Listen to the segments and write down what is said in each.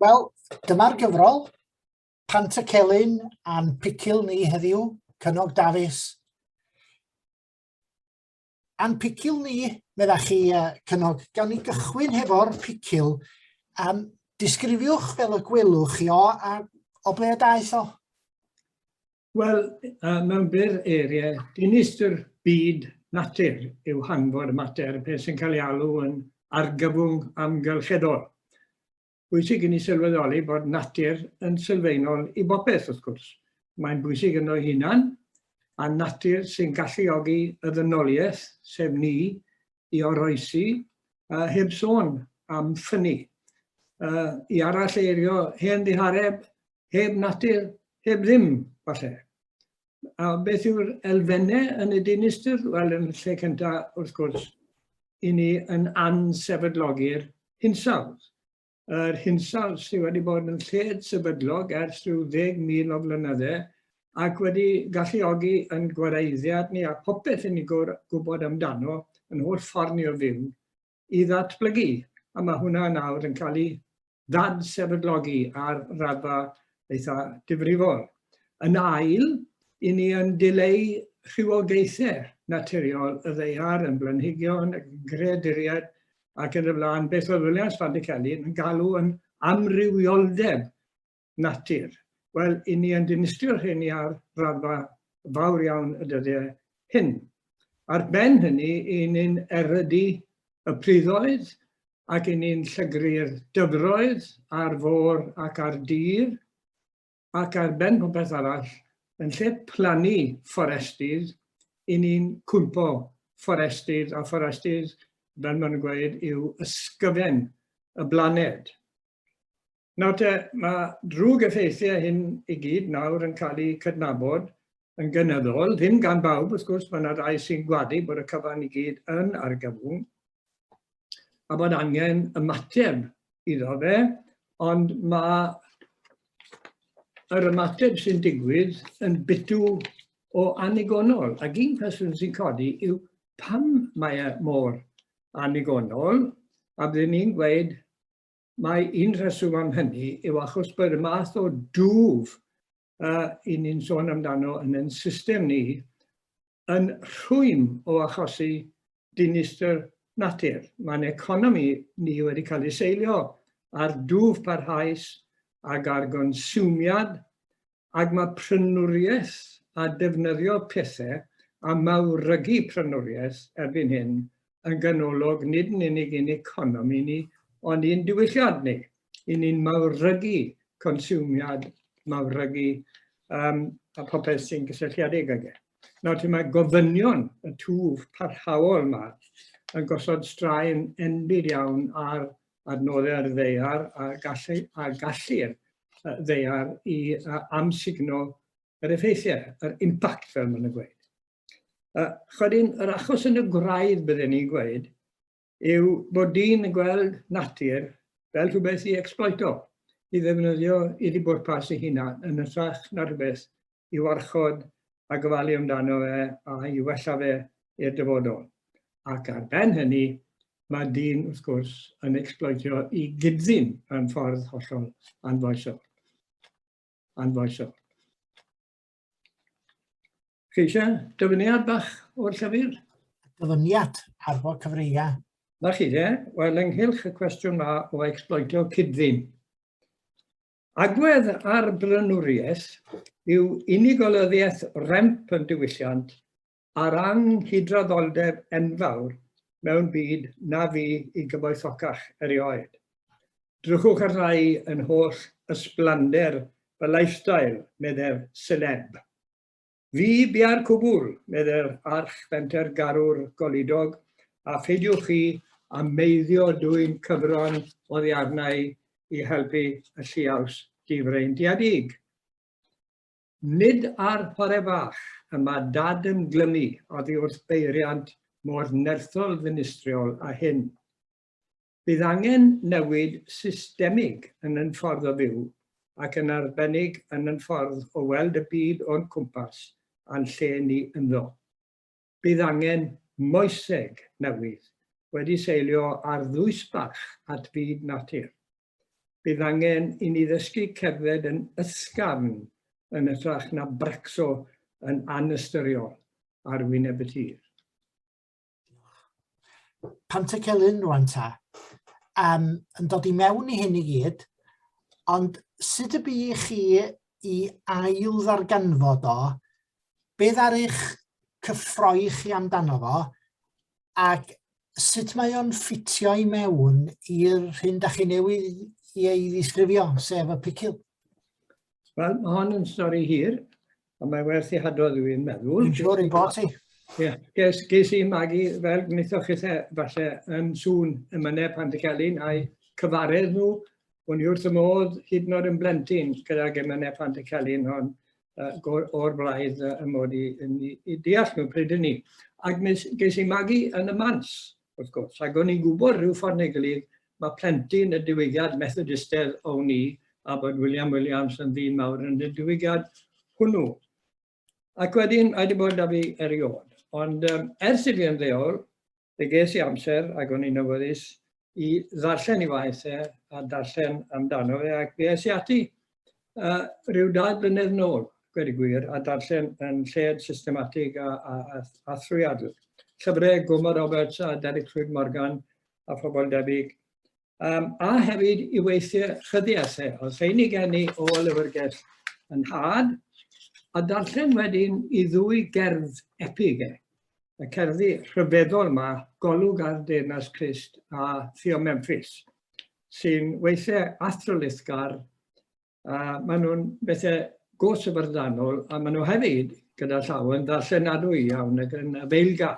Wel, dyma'r gyfrol. Pant y Celyn a'n picil ni heddiw, Cynog Dafis. A'n picil ni, medda chi, uh, Cynog, gawn ni gychwyn hefo'r picil. Um, disgrifiwch fel y gwelwch chi o, a o ble y daeth o? Wel, mewn byr eiriau, dinistr byd natur yw hanfod y mater, beth sy'n cael ei alw yn argyfwng amgylcheddol. Bwysig i ni sylweddoli bod natur yn sylfaenol i bopeth, wrth gwrs. Mae'n bwysig yno hunan, a natur sy'n galluogi y ddynoliaeth, sef ni, i oroesi, uh, heb sôn am ffynnu. Uh, I arall eirio hen ddihareb, heb natur, heb ddim, falle. A beth yw'r elfennau yn y dinistr? Wel, yn lle cyntaf, wrth gwrs, i ni yn ansefydlogi'r hinsawdd. Yr hinsawdd sydd wedi bod yn lled sefydlog ers rhyw ddeg mil o flynyddau ac wedi galluogi yn gwareiddiad ni a popeth yn ei gwybod amdano, yn holl ffordd ni o fyw, i ddatblygu, a mae hwnna nawr yn cael ei ddad-sefydlogi ar raddfa eitha difrifol. Yn ail, i ni yn dileu rhywogaethau naturiol y ddeiar yn blanhigion, yn greaduriaid ac yn y blaen, beth oedd Williams Fandiceli yn galw yn amrywioldeb natur. Wel, i ni yn dinistrio'r rheini ar raddfa fawr iawn y dyddiau hyn. Ar ben hynny, i ni'n erydu y priddoedd ac i ni'n llygru'r dyfroedd ar fôr ac ar dir, ac ar ben popeth arall, yn lle plannu fforestydd, i ni'n cwympo fforestydd, a fforestydd, fel maen nhw'n gweud, yw ysgyfen y blaned. Nawr te, mae drwg effeithiau hyn i gyd nawr yn cael eu cydnabod yn gynyddol, ddim gan bawb wrth gwrs, mae yna rai sy'n gwadu bod y cyfan i gyd yn argyfwng, a bod angen ymateb iddo fe, ond mae yr ymateb sy'n digwydd yn bitw o anigonol. Ac un cwestiwn sy'n codi yw pam mae e mor anigonol, a byddwn ni'n gweud Mae un rheswm am hynny yw achos bod y math o dwf uh, i ni'n sôn amdano yn ein system ni yn rhwym o achosi dinistr natur. Mae'n economi ni wedi cael ei seilio ar dwf parhaus ac ar gonsumiad ac mae prynwriaeth a defnyddio pethau a mawrygu prynwriaeth erbyn hyn yn ganolog nid yn unig i'n economi ni, ond i'n diwylliad ni. I ni'n mawrygu consumiad, mawrygu um, a popeth sy'n gysylltiedig ag e. Nawr, ti mae gofynion y twf parhaol yma yn gosod straen enbyd iawn ar adnoddau ar y ddeiar a gallu, a gallu'r ddeiar i amsugno yr effeithiau, yr impact fel maen nhw'n gweud. Uh, Chydyn, yr achos yn y gwraidd bydden ni'n gweud yw bod dyn yn gweld natur fel rhywbeth i exploito, i ddefnyddio i ddibwrpas ei hunan yn ytrach na rhywbeth i warchod a gofalu amdano fe a'i wella fe i'r dyfodol. Ac ar ben hynny, mae dyn, wrth gwrs, yn ecsbloetio i gyddyn mewn ffordd hollol anfoesol. Anfoesol. Chi eisiau dyfyniad bach o'r llyfr? Dyfyniad ar fod cyfreia. Na chi, ie? Wel, ynghylch y cwestiwn ma o ecsbloetio cydfyn. Agwedd ar blaenoriaeth yw unigolyddiaeth remp yn diwylliant a'r anghydraddoldeb enfawr mewn byd na fu i gyfoethocach erioed. Drychwch ar rai yn holl ysblander fy lifestyle, meddai'r seleb. Fi bia'r cwbwl, meddai'r arch fenter garw'r goludog, a pheidiwch chi a meiddio dwyn cyfron oddiarnau i helpu y lliaws difreintiedig. Nid ar fore fach y mae dad yn glymu oddi wrth beiriant mor nerthol ddinistriol a hyn. Bydd angen newid systemig yn ein ffordd o fyw ac yn arbennig yn ein ffordd o weld y byd o'n cwmpas a'n lle ni ynddo. Bydd angen moeseg newydd wedi seilio ar ddwysbarch at fyd natur. Bydd angen i ni ddysgu cerdded yn ysgafn yn hytrach na bracso yn anystyriol ar wyneb y tir. Pant y Celyn rwan ta. Um, yn dod i mewn i hyn i gyd, ond sut y bu i chi i ail ddarganfod o, beth ar eich cyffroi chi amdano fo, ac sut mae o'n ffitio i mewn i'r hyn da chi newydd i ei ddisgrifio, sef y picil? Wel, mae hon yn stori hir, A mae werth i hadrodd i fi'n meddwl. Dwi'n siŵr i bod ti. Ie, ges, ges i magu fel gwnaethoch chi e, falle yn sŵn y myneb pan dy cael un a'i cyfaredd nhw. O'n i wrth y modd hyd yn oed yn blentyn gyda'r gemynau pan dy cael un hon o'r blaid y mod i yn i, i deall nhw pryd hynny. Ac ges i magu yn y mans wrth gwrs. Ac o'n i'n gwybod rhyw ffordd neu gilydd, mae plentyn y diwygiad Methodistedd o'n i, a bod William Williams yn ddyn mawr yn y diwygiad hwnnw. Ac wedyn, mae wedi bod da fi erioed. Ond um, ers i fi yn ddeol, fe ges i amser ac o'n i'n awyddus i ddarllen i waith e a darllen amdano fe ac fe es i ati uh, rhyw dau blynedd nôl, gwedi gwir, a darllen yn lled systematig a, a, a, a thrwyadl. Llyfrau Gwma Roberts a Derek Llwyd Morgan a phobl debyg. Um, a hefyd i weithio chyddiasau, e, os ein i gen i o lyfrgell yn had, a darllen wedyn i ddwy gerdd epig e. Y cerddi rhyfeddol yma, Golwg ar Deyrnas Crist a Theo Memphis. sy'n weithiau athrylithgar, a maen nhw'n bethau go syfrdanol, a maen nhw hefyd gyda llaw yn ddarllenadwy iawn ac yn feilga.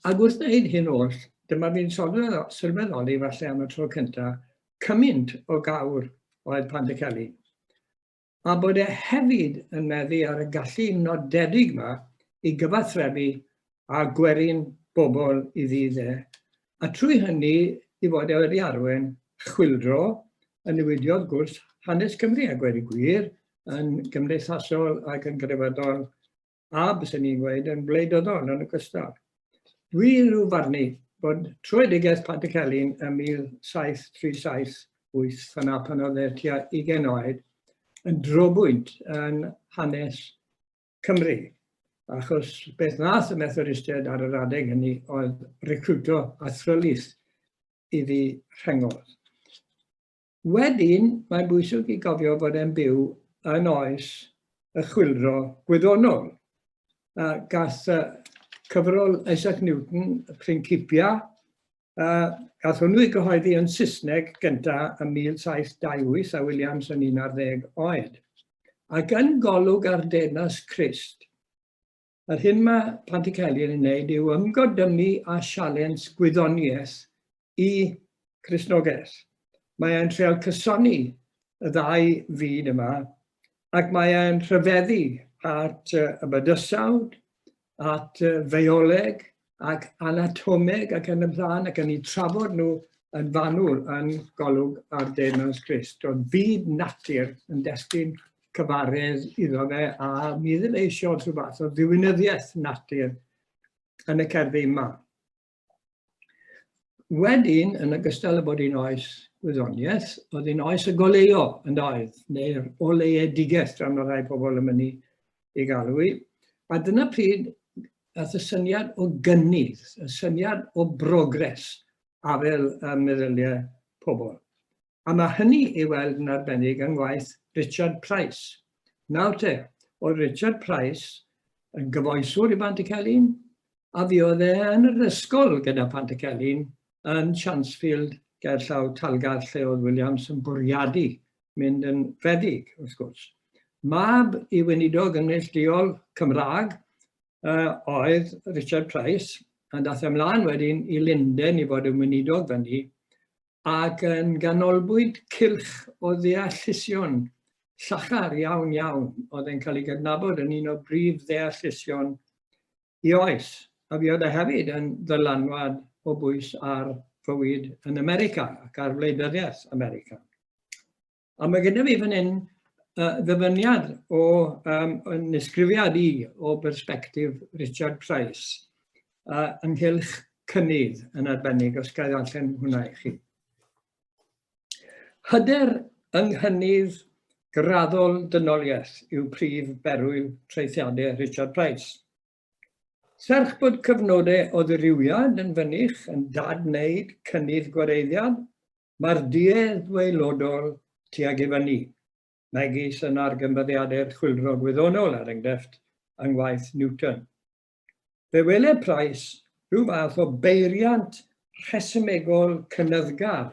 Ac wrth wneud hyn oll, dyma fi'n sylweddoli falle am y tro cyntaf, cymaint o gawr oedd Pantycelyn. a bod e hefyd yn meddu ar y gallu nodedig yma i gyfathrebu â gwerin bobl i ddydd e, a trwy hynny i fod e wedi arwain chwyldro yn newidiodd gwrs hanes Cymru a gweud y gwir yn gymdeithasol ac yn grefyddol a, byswn i'n gweud, yn wleidyddol yn ogystal. Dwi rhyw farnu bod troedigaeth Patrick Elin ym 1737, yna pan oedd e tua 20 oed, yn drobwynt yn hanes Cymru. Achos beth nath y Methodistiaid ar yr adeg hynny oedd recruto a thrylith iddi rhengodd. Wedyn, mae'n bwysig i gofio fod e'n byw yn oes y chwildro gwyddonol. A gath uh, cyfrol Isaac Newton, y Principia, uh, gath hwnnw i gyhoeddi yn Saesneg gyntaf ym 1728 a Williams yn 11 oed. Ac yn golwg ar denas Christ, Yr hyn mae Plant y Celyn yn wneud yw ymgodymu â sialens gwyddoniaeth i Cristnogaeth. Mae e'n treol cysoni y ddau fyd yma ac mae e'n rhyfeddu at y bydysawd, at y feoleg, ac anatomeg ac yn y blaen, ac yn ei trafod nhw yn fanwl yn golwg ar De Mews Christ. Oedd byd natur yn destyn cyfaredd iddo fe, a mi ddim eisiau rhyw fath o ddiwinyddiaeth natur yn y cerddi yma. Wedyn, yn ogystal â bod hi'n oes wyddoniaeth, oedd hi'n oes y goleo yn doedd, neu'r oleedigaeth dran o rai pobl yn mynd i galw i. A dyna pryd Aeth y syniad o gynnydd, y syniad o brogres afel y meddyliau pobl. A mae hynny ei weld yn arbennig yng ngwaith Richard Price. Nawr te, oedd Richard Price yn gyfoeswr i Bantycelyn, a fi oedd e yn yr ysgol gyda Pantycelyn yn Chansfield gerllaw Talgarth lle oedd Williams yn bwriadu mynd yn rhedeg, wrth gwrs. Mab i weinidog ymwneud lleol Cymraeg uh, oedd Richard Price, a dath ymlaen wedyn i Linden i fod yn weinidog fyny, ac yn ganolbwynt cilch o ddeallusion llachar iawn iawn oedd yn cael ei gydnabod yn un o brif ddeallusion I oes, a fi oedd e hefyd yn ddylanwad o bwys ar fywyd yn America ac ar wleidyddiaeth America. A mae gyda fi fan hyn uh, ddyfyniad o um, yn ysgrifiad i o berspektif Richard Price uh, ynghylch cynnydd yn arbennig os gael allan hwnna i chi. Hyder yng nghynnydd graddol dynoliaeth yw prif berwyl traethiadau Richard Price. Serch bod cyfnodau o ddirywiad yn fynych yn dad-wneud cynnydd gwareiddiad, mae'r duedd waelodol tuag i fyny, megis yn argymddyadau'r chwyldro gwyddonol, er enghraifft, yng ngwaith Newton. Fe weled Price rhyw fath o beiriant rhesymegol cynyddgar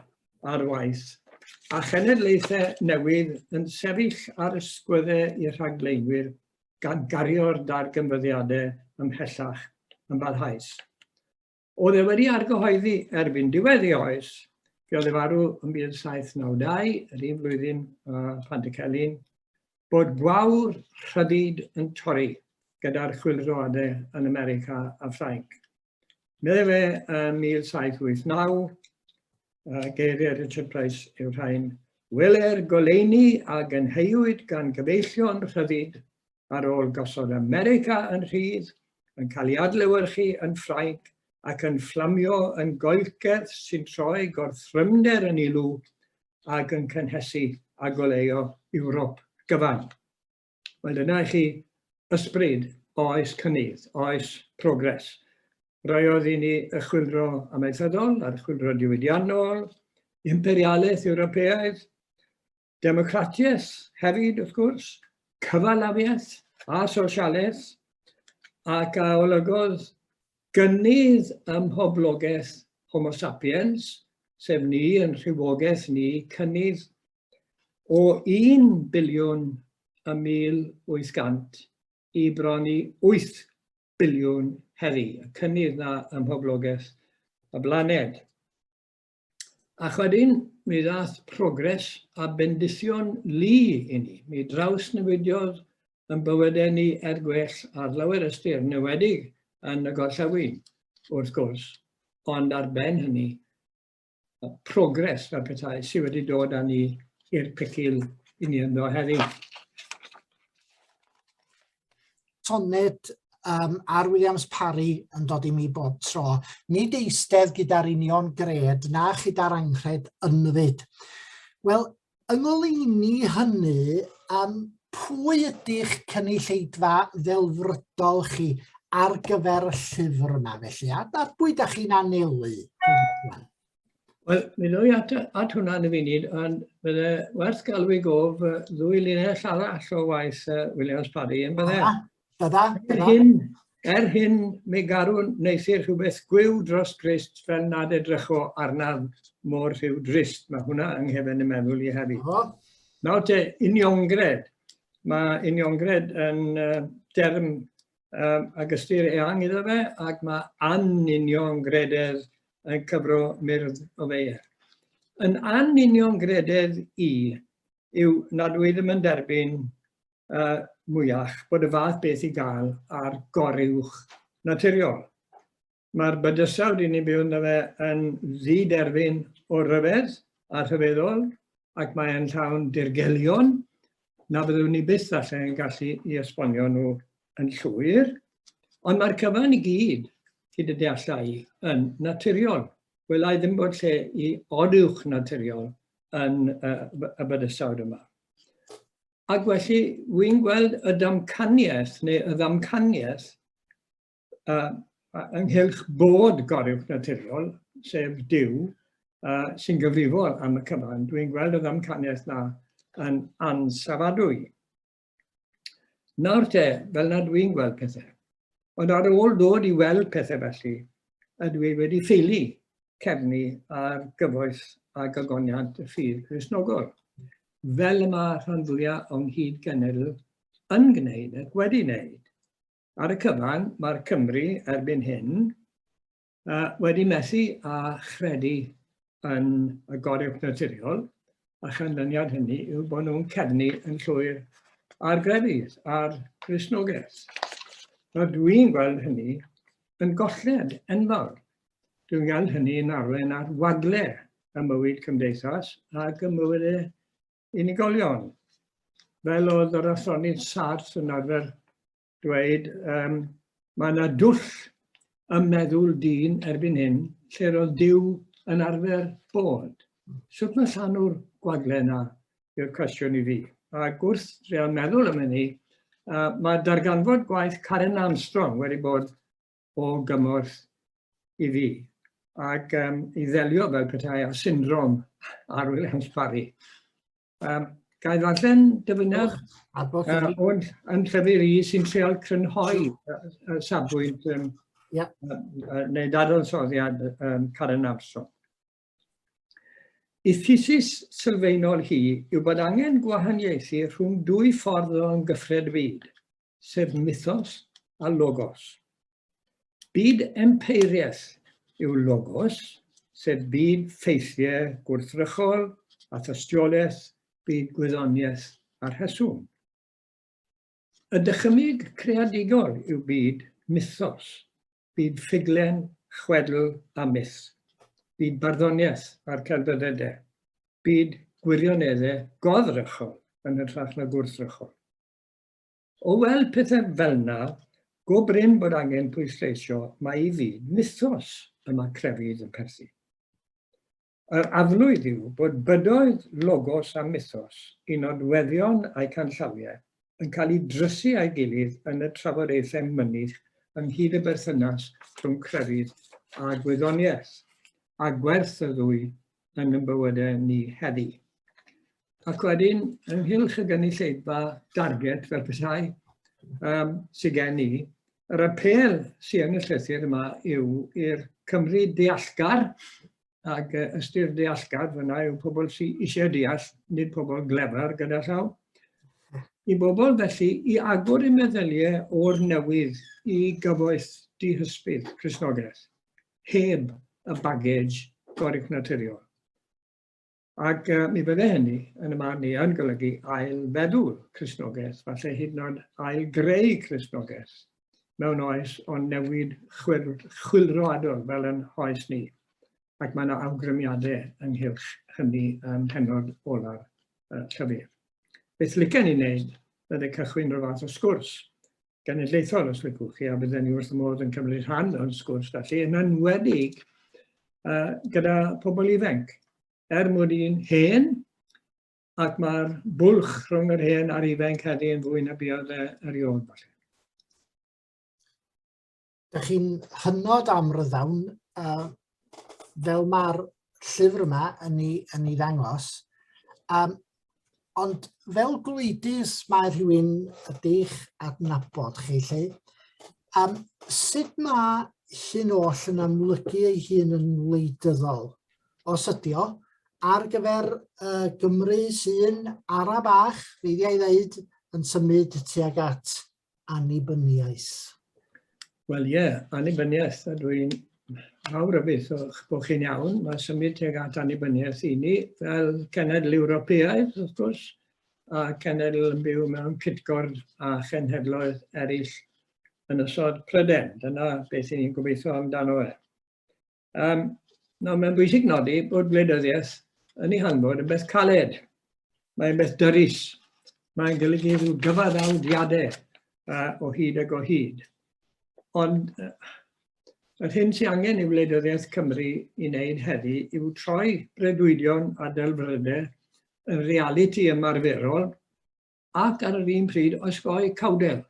ar waith, a chenedlaethau newydd yn sefyll ar ysgwyddau i'r rhagflaenwyr gan gario'r darganfyddiadau ymhellach yn barhaus. Oedd e wedi argyhoeddi erbyn diwedd ei oes, fe oedd e farw yn 1792, yr un flwyddyn uh, Pantycelyn, bod gwawr rhydid yn torri gyda'r chwildroadau yn America a Ffrainc. Meddai fe yn 1789, uh, geiriau Richard Price yw rhain, Weler goleini a gynheuwyd gan gyfeillion rhyddid ar ôl gosod America yn rhydd, yn cael ei adlewyrchu yn Ffrainc ac yn fflamio yn goelcerth sy'n troi gorthrymder yn ilw ac yn cynhesu a goleuo Ewrop gyfan. Wel, dyna i chi ysbryd oes cynnydd, oes progres. Roedd i ni y chwilro amaethyddol a'r chwilro diwydiannol, imperialaeth Ewropeaidd, Democratiaeth hefyd, wrth gwrs, cyfalafiaeth a sosialaeth, ac a olygodd gynnydd ym mhoblogaeth Homo sapiens, sef ni yn rhywogaeth ni, cynnydd o 1 biliwn y 1800 i bron i 8 biliwn heddi, y cynnydd na ym mhoblogaeth y blaned. Ac wedyn, mi ddath progres a bendithion lu i ni. Mi drawsnewidiodd yn bywydau ni er gwell ar lawer ystyr, newedig yn y gorllewin, wrth gwrs, ond ar ben hynny, progres fel pethau sydd wedi dod â ni i'r pecil i ni ynddo heddiw. Tonnet um, ar Williams Parry yn dod i mi bob tro. Nid eistedd gyda'r union gred na chyda'r anghred ynfyd. Wel, yng ngoleuni hynny, um, pwy ydych cynulleidfa ddelfrydol chi ar gyfer y llyfr yma felly? A, a pwy da chi'n anelu? Wel, mi ddwy at, at hwnna yn y funud, ond bydde werth galw i gof uh, ddwy linell arall o waith uh, Williams Paddy yn bydde. Bydda, Er hyn, er hyn, mi garw neithir rhywbeth gwyw dros grist fel nad edrycho arnaf mor rhyw drist. Mae hwnna yng nghefen y meddwl i hefyd. Oh. Nawr te, uniongred. Mae uniongred yn uh, derm um, ac ystyr eang iddo fe, ac mae anunion grededd yn cyfro myrdd o feir. Yn anunion grededd i yw nad wyf ddim yn derbyn uh, mwyach bod y fath beth i gael ar goruwch naturiol. Mae'r bydysawd i ni'n byw ynddo fe yn ddi-derfyn o ryfedd a rhyfeddol ac mae'n llawn dirgelion na fyddwn ni byth falle yn gallu i esbonio nhw yn llwyr. Ond mae'r cyfan i gyd, hyd y deallau, yn naturiol. Wel, ai ddim bod lle i oduwch naturiol yn uh, y bydysawd yma. Ac felly, wy'n gweld y damcaniaeth neu y ddamcaniaeth uh, ynghylch bod goruwch naturiol, sef Dyw, uh, sy'n gyfrifol am y cyfan. Dwi'n gweld y ddamcaniaeth na yn ansafadwy. Nawr te, fel nad dwi'n gweld pethau. Ond ar ôl dod i weld pethau felly, ydw i wedi ffeili cefnu ar gyfoes a gagoniant y ffydd Cresnogol, fel y mae rhan fwyaf o'n hyd genedl yn gwneud ac wedi wneud. Ar y cyfan, mae'r Cymry erbyn hyn uh, wedi methu a chredu yn y gorywch naturiol, a chanlyniad hynny yw bod nhw'n cefnu yn llwyr ar grefydd, ar Gristnogaeth. A dwi'n gweld hynny yn golled enfawr. Dwi'n gweld hynny yn arwain ar wagle y mywyd cymdeithas ac y mywyd unigolion. Fel oedd yr athronydd Sarth yn arfer dweud, um, mae yna dwll ym meddwl dyn erbyn hyn lle roedd Dyw yn arfer bod. Sut mae llanw'r gwagle yna yw'r cwestiwn i fi. Ac wrth drio meddwl am hynny, uh, mae darganfod gwaith Karen Armstrong wedi bod o gymorth i fi ac um, i ddelio fel petai â syndrom ar Williams Parry. Um, Gael ddarllen dyfyniad uh, o'n yn llyfr i sy'n treol crynhoi y safbwynt um, yeah. uh, neu dadansoddiad um, Karen Armstrong. Y thesis sylfaenol hi yw bod angen gwahaniaethu rhwng dwy ffordd o ymgyffred fyd, sef mythos a logos. Byd empeiriaeth yw logos, sef byd ffeithiau gwrthrychol a thystiolaeth, byd gwyddoniaeth a rheswm. Y dychymyg creadigol yw byd mythos, Byd ffuglen, chwedl a myth. Byd barddoniaeth a'r celfyddede. Byd gwirionedde goddrychol yn hytrach na gwrthrychol. O weld pethau fel yna, go brin bod angen pwysleisio mae i fyd mythos y mae crefydd yn perthyn. Yr aflwydd yw bod bydoedd, logos a mythos i nodweddion a'i canllawiau yn cael eu drysu â'i gilydd yn y trafodaethau mynych ynghyd y berthynas rhwng crefydd a gwyddoniaeth, a gwerth y ddwy yn ein bywydau ni heddi. Ac wedyn, ynghylch y gynulleidfa darget fel petai um, sydd gen i, yr apel sy'n yn y llythyr yma yw i'r Cymru deallgar, ac uh, ystyr deallgar fyna yw pobl sy'n eisiau deall, nid pobl glefer gyda llaw. I bobl felly i agor i meddyliau o'r newydd i gyfoeth dihysbydd Cresnogaeth, heb y bagage gorig naturiol. Ac uh, mi fydde hynny, yn y man ni, yn golygu ail-feddwl Cristnogaeth, falle hyd yn oed ail-greu Cristnogaeth mewn oes o'n newid chwil, chwilroadol fel yn hoes ni. Ac mae yna awgrymiadau ynghylch hynny yn hynod ola'r uh, llyfr. Beth licen i wneud ydy cychwyn rhyw fath o sgwrs genedlaethol, os licwch chi, a bydden ni wrth y modd yn cymryd rhan o'n sgwrs felly, yn enwedig uh, gyda pobl ifanc. Er mwyn i'n hen, ac mae'r bwlch rhwng yr hen a'r ifanc heddi yn fwy na biodd e erioed. Dych chi'n hynod amryddawn uh, fel mae'r llyfr yma yn ei, yn ei ddangos. Um, ond fel gwleidus mae rhywun ydych adnabod chi lle. Um, sut mae hyn oll yn amlygu ei hun yn wleidyddol? Os ydy o, ar gyfer uh, Gymru sy'n ara bach, feiddiau ddeud, yn symud tuag at annibyniais. Wel ie, yeah, annibyniaeth, a dwi'n fawr o beth o'ch bod chi'n iawn. Mae symud teg at annibyniaeth i ni fel cenedl Ewropeaidd, wrth gwrs, a cenedl yn byw mewn cytgord a chenhedloedd eraill yn ysod Pryden. Dyna beth ni'n gobeithio amdano fe. Um, nawr, mae'n bwysig nodi bod gwleidyddiaeth yn ei hanfod yn beth caled. Mae'n beth dyrus. Mae'n golygu rhyw gyfaddawdiadau uh, o hyd ag o hyd. Ond uh, yr hyn sy'n angen i wleidyddiaeth Cymru i wneud heddi yw troi bredwydion a delfrydau yn realiti ymarferol ac ar yr un pryd osgoi cawdel.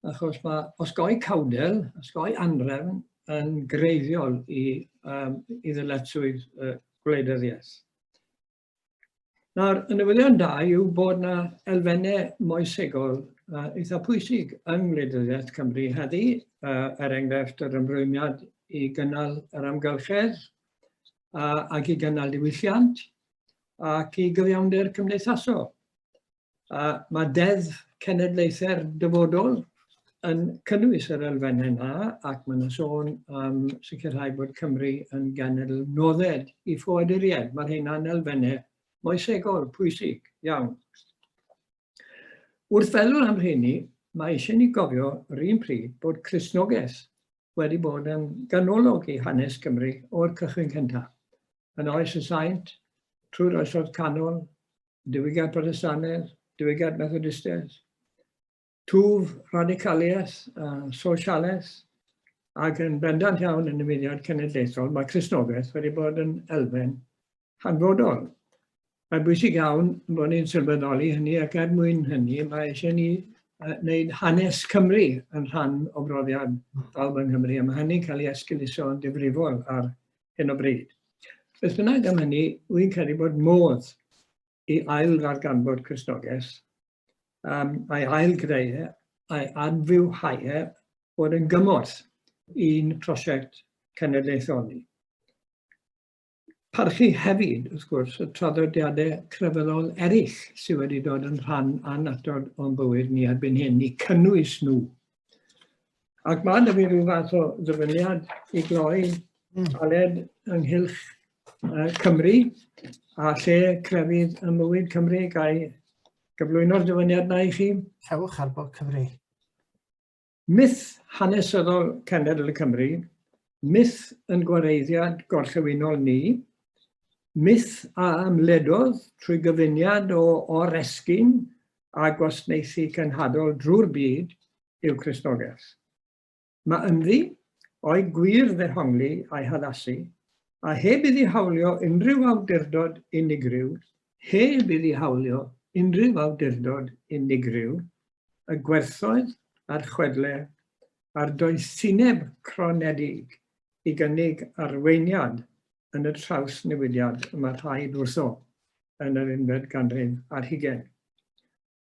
achos mae osgoi cawdel, osgoi anrefn yn greiddiol i, um, i ddyletswydd uh, gwleidyddiaeth. Nawr, y newyddion da yw bod yna elfennau moesegol uh, eitha pwysig yng ngwleidyddiaeth Cymru heddi, uh, er enghraifft yr ymrwymiad i gynnal yr amgylchedd uh, ac i gynnal diwylliant ac i gyfiawnder cymdeithasol. A mae Deddf Cenedlaethau'r Dyfodol yn cynnwys yr elfennau yna ac mae'n yna sôn am sicrhau bod Cymru yn genedl nodded i ffoaduriaid. Mae'r hynna'n elfennau moesegol pwysig iawn. Wrth feddwl am rheini, mae eisiau ni gofio yr un pryd bod Cresnogaeth wedi bod yn ganolog i hanes Cymru o'r cychwyn cyntaf. Yn oes y saint, trwy'r oesoedd canol, diwygiad Protestannedd, diwygiad Methodistedd, twf radicaliaeth a sosialaeth, ac yn bendant iawn yn y mudiad cenedlaethol, mae Cresnogaeth wedi bod yn elfen hanfodol. Mae'n bwysig iawn bod ni'n sylweddoli hynny ac er mwyn hynny mae eisiau ni wneud hanes Cymru yn rhan o brofiad bawb yng Nghymru a mae hynny'n cael ei esguluso yn difrifol ar hyn o bryd. Beth bynnag am hynny, wy'n credu bod modd i ail ddarganfod Cristnogaeth, um, a'i ail greu, e, a'i adfywhau e, bod yn gymorth i'n prosiect cenedlaethol ni. Parchu hefyd, wrth gwrs, y traddodiadau crefyddol eraill sydd wedi dod yn rhan anatod o'n bywyd ni erbyn hyn, i cynnwys nhw Ac mae yna fi rhyw fath o ddyfyniad i gloi mm. Aled ynghylch uh, Cymru a lle crefydd y mywyd Cymru gael gyflwyno'r dyfyniad na i chi. Cewch ar bod Cymru. Myth hanesyddol cenedl y Cymru, myth yn gwareiddiad gorllewinol ni, myth a ymledodd trwy gyfuniad o oresgyn a gwasnaethu cenhadol drwy'r byd yw Cristnogaeth. Mae ynddi o'i gwir ddehongli a'i haddasu, a heb iddi hawlio unrhyw awdurdod unigryw, heb iddi hawlio unrhyw awdurdod unigryw, y gwerthoedd a'r chwedle a'r doethineb cronedig i gynnig arweiniad yn y trawsnewidiad y mae rhaid wrtho yn yr unfed ganrif ar hugen.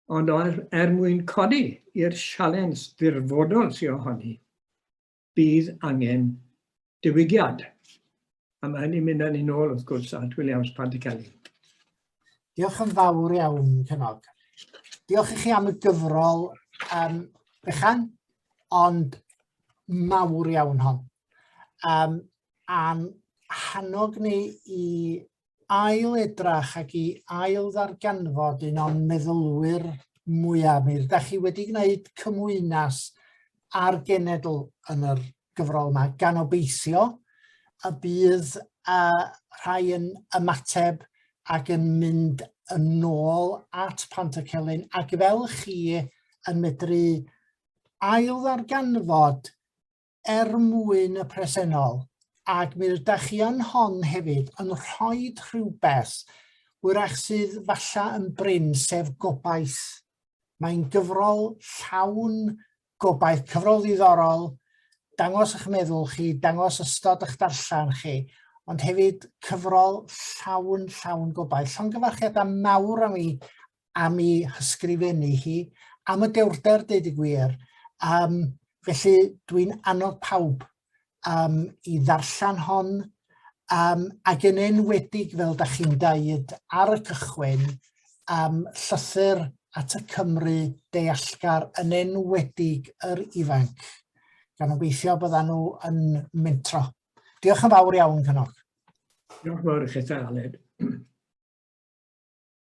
Ond er, er mwyn codi i'r sialens dirfodol sy'n ohoni, bydd angen diwygiad. A mae hynny'n mynd â ni'n ôl, wrth gwrs, at Williams Panticelli. Diolch yn fawr iawn, Cynog. Diolch i chi am y gyfrol um, bychan, ond mawr iawn hon. Um, a'n hannog ni i ail edrach ac i ail ddarganfod un o'n meddylwyr mwyaf. Mi ydych chi wedi gwneud cymwynas ar genedl yn yr gyfrol yma, gan obeithio y bydd uh, rhai yn ymateb ac yn mynd yn ôl at Pant y Celyn ac fel chi yn medru ail ddarganfod er mwyn y presennol, ac mi ydych chi yn hon hefyd yn rhoi rhywbeth wrach sydd falla yn brin, sef gobaith. Mae'n gyfrol llawn gobaith, cyfrol ddiddorol, dangos eich meddwl chi, dangos ystod eich darllen chi, ond hefyd cyfrol llawn, llawn gobaith. Llongyfarchiadau mawr am i am i hysgrifennu hi, am y dewrder deud y gwir. Um, felly dwi'n annog pawb um, i ddarllen hon um, ac yn enwedig fel da chi'n daid ar y cychwyn um, llythyr at y Cymru deallgar yn enwedig yr ifanc. Gan obeithio byddan nhw yn mentro. Diolch yn fawr iawn, Cynog. Diolch yn fawr i chi, Aled.